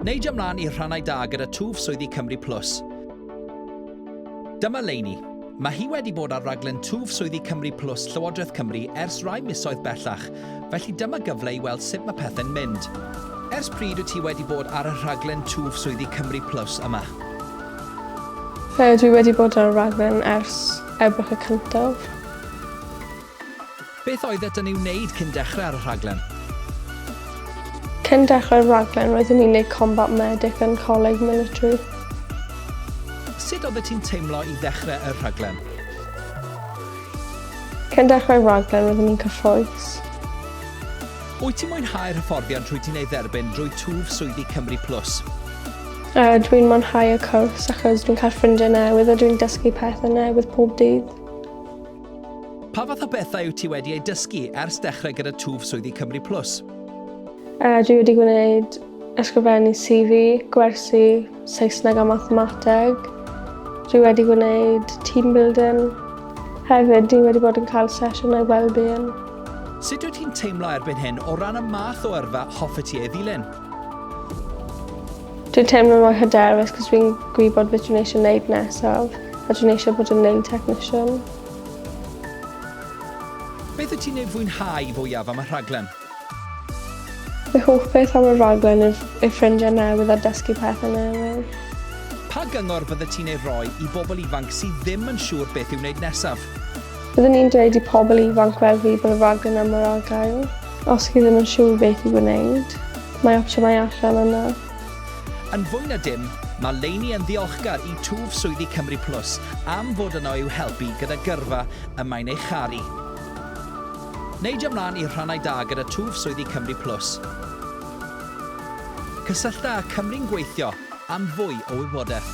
Neidio mlaen i'r rhannau da gyda twf swyddi Cymru Plus. Dyma Leini. Mae hi wedi bod ar raglen twf swyddi Cymru Plus Llywodraeth Cymru ers rai misoedd bellach, felly dyma gyfle i weld sut mae pethau'n mynd. Ers pryd wyt ti wedi bod ar y rhaglen twf swyddi Cymru Plus yma? Fe ydw i wedi bod ar y rhaglen ers Ebrill y cyntaf. Beth oeddet yn ei wneud cyn dechrau ar y rhaglen? Cyn dechrau'r rhaglen roeddwn i'n neud Combat Medic yn Coleg Military. Sut oeddet ti'n teimlo i ddechrau y rhaglen? Cyn dechrau'r rhaglen roeddwn i'n cyffrous. Wyt ti'n mwynhau'r hyfforddiant rwyt ti'n ei dderbyn drwy twf swyddi Cymru Plus? Uh, dwi'n mwynhau y cwrs achos dwi'n cael ffrindiau newydd a dwi'n dysgu pethau newydd pob dydd. Pa fath o bethau wyt ti wedi eu dysgu ers dechrau gyda twf swyddi Cymru Plus? Uh, dwi wedi gwneud ysgrifennu CV, gwersi, Saesneg a mathemateg. Dwi wedi gwneud team building. Hefyd, dwi wedi bod yn cael sesiynau well-being. Sut wyt ti'n teimlo erbyn hyn o ran y math o yrfa hoffet ti ei ddilyn? Dwi'n teimlo mor hyderus cos fi'n gwybod beth dwi'n eisiau wneud nesaf a dwi'n eisiau bod yn nail technician. Beth wyt ti'n ei fwynhau fwyaf am y rhaglen? Fy hoff beth am y rhaglen yw ei ffrindiau newydd a dysgu pethau newydd. Pa gyngor bydde ti'n ei roi i bobl ifanc sydd ddim yn siŵr beth i'w wneud nesaf? Byddwn i'n dweud i pobl ifanc fel fi bod y fag yna mor agael. Os chi ddim yn siŵr beth i wneud, mae opsiynau allan yna. Yn fwy na dim, mae Leini yn ddiolchgar i twf swyddi Cymru Plus am fod yno i'w helpu gyda gyrfa y mae'n ei charu. Neidio ymlaen i rhannau da gyda twf swyddi Cymru Plus. Cysyllta â Cymru'n Gweithio am fwy o wybodaeth.